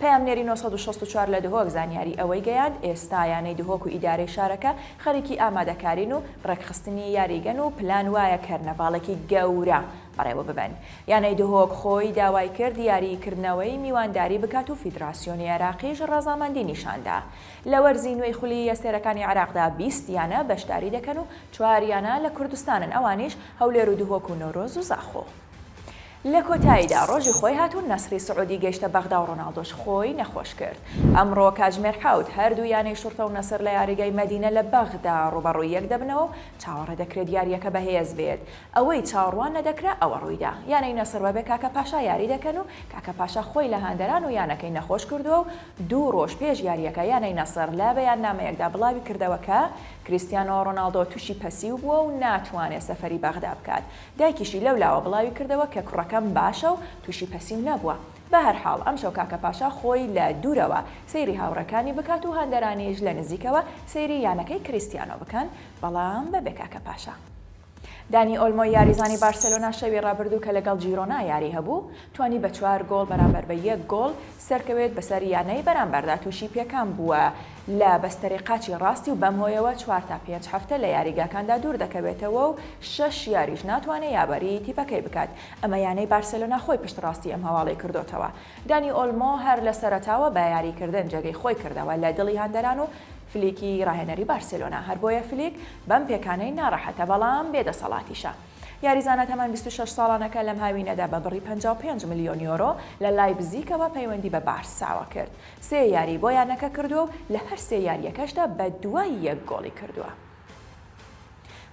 پەیامنێری نۆ سەد و شەست و چوار لە دهۆک زانیاری ئەوەی گەیاند، ئێستا یانەی دهۆک و ئیدارەی شارەکە خەریکی ئامادەکارین و ڕێکخستنی یاریگەن و پلان وایە کەرنەڤاڵێکی گەورە بەڕێوە ببەن. یانەی دهۆک خۆی داوای کرد یاریی کردنەوەی میوانداری بکات و فیدراسیۆنی عێراقیش ڕەزامەندی نیشاندا. لە وەرزی نوێی خولی ئەستێرەکانی عێراقدا بیست یانە بەشداری دەکەن و چوار یانە لە کوردستانن ئەوانیش، هەولێر و دهۆک و نەورۆز و زاخۆ. لە کۆتاییدا ڕۆژی خۆی هات و نەسڕی سعودی گەیشتە بەغدا و ڕۆناڵدۆش خۆی نەخۆش کرد. ئەمڕۆ کاتژمێر حەوت هەردوو یانەی شورتە و نەسڕ لە یاریگای مەدینە لە بەغدا ڕووبەڕووی یەک دەبنەوە و چاوەڕێدەکرێت یارییەکە بەهێز بێت. ئەوەی چاوەڕوان نەدەکرا ئەوە ڕوویدا. یانەی نەسڕ بەبێ کاکا پاشا یاری دەکەن و کاکا پاشا خۆی لە هەندەران و یانەکەی نەخۆش کردووە و دوو ڕۆژ پێش یارییەکە یانەی نەسڕ لە بەیاننامەیەکدا بڵاویکردەوە کە کریستیانۆ ڕۆناڵدۆ تووشی پەسیو بووە و ناتوانێت سەفەری بەغدا بکات. دایکیشی لەو لاوە بڵاوی کردەوە کە کوڕەکەم باشە و تووشی پەسیو نەبووە. بە هەر حاڵ ئەمشەو کاکە پاشا خۆی لە دوورەوە سەیری هاوڕێکانی بکات و هاندەرانیش لە نزیکەوە سەیری یانەکەی کریستیانۆ بکەن، بەڵام بەبێ کاکە پاشا. دانی ئۆلمۆی یاریزانی بارسێلۆنا شەوی رابردوو کە لەگەڵ جیرۆنا یاری هەبوو، توانی بە چوار گۆڵ بەرامبەر بە یەک گۆڵ سەرکەوێت بەسەر یانەی بەرامبەردا تووشی پێکان بووە، لە بەستەرەی قاچی ڕاستی و بەم هۆیەوە چوار تا پێنج هەفتە لە یاریگاکاندا دوور دەکەوێتەوە و شەش یاریش ناتوانێت یابەریی تیپەکەی بکات، ئەمە یانەی بارسێلۆنا خۆی پشتڕاستی ئەم هەواڵەی کردۆتەوە. دانی ئۆلمۆ هەر لە سەرەتاوە بە یارییکردن جێگەی خۆی کردەوە لە دڵی هاندەران و فلیکی ڕاهێنەری بارسێلۆنا، هەر بۆیە فلیک بەم پێکانەی ناڕەحەتە، بەڵام بێ دەسەڵاتیشە. یاریزانە تەمەن بیست و شەش ساڵانەکە لەم هاوینەدا بە بڕی پەنجا و پێنج ملیۆن یۆرۆ لە لایپزیکەوە پەیوەندی بە بارساوە کرد، سێ یاری بۆ یانەکە کردووە و لە هەر سێ یارییەکەشدا بە دوای یەک گۆڵی کردووە.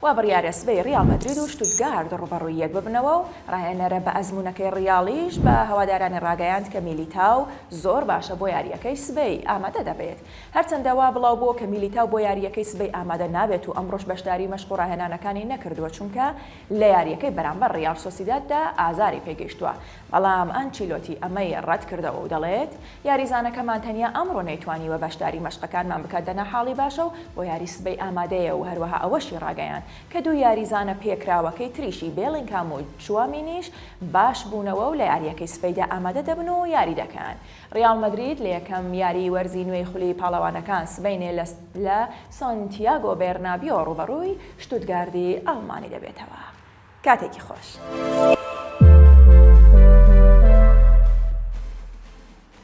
وا بڕیارە سبەی ریال مەدرید و شتوتگارد رووبەڕووی یەک ببنەوە و راهێنەرە بە ئەزموونەکەی ریالیش بە هەوادارانی راگەیاند کە میلیتاو زۆر باشە بۆ یارییەکەی سبەی ئامادە دەبێت هەرچەندە وا بڵاوبووە کە میلیتاو بۆ یارییەکەی سبەی ئامادە نابێت و ئەمڕۆش بەشداری مەشق و راهێنانەکانی نەکردووە چونکە لە یارییەکەی بەرامبەر ریال سۆسیداددا ئازاری پێگەیشتووە بەڵام ئانچیلۆتی ئەمەی رەتکردەوە و دەڵێت، یاریزانەکەمان تەنیا ئەمڕۆ نەیتوانیوە بەشداری مەشقەکانمان بکات دەنا حاڵی باشە و بۆ یاری سبەی ئامادەیە و هەروەها ئەوەشی راگەیاند کە دوو یاریزانە پێکراوەکەی تریشی بێڵینگهام و چوامینیش باشبوونەوە و لە یارییەکەی سبەیدا ئامادە دەبن و یاری دەکەن. ریاڵ مەدرید لە یەکەم یاریی وەرزی نوێی خولی پاڵەوانەکان سبەینێ لە سانتیاگۆ بێرنابیۆ رووبەڕووی شتوتگاردی ئەڵمانی دەبێتەوە. کاتێکی خۆش.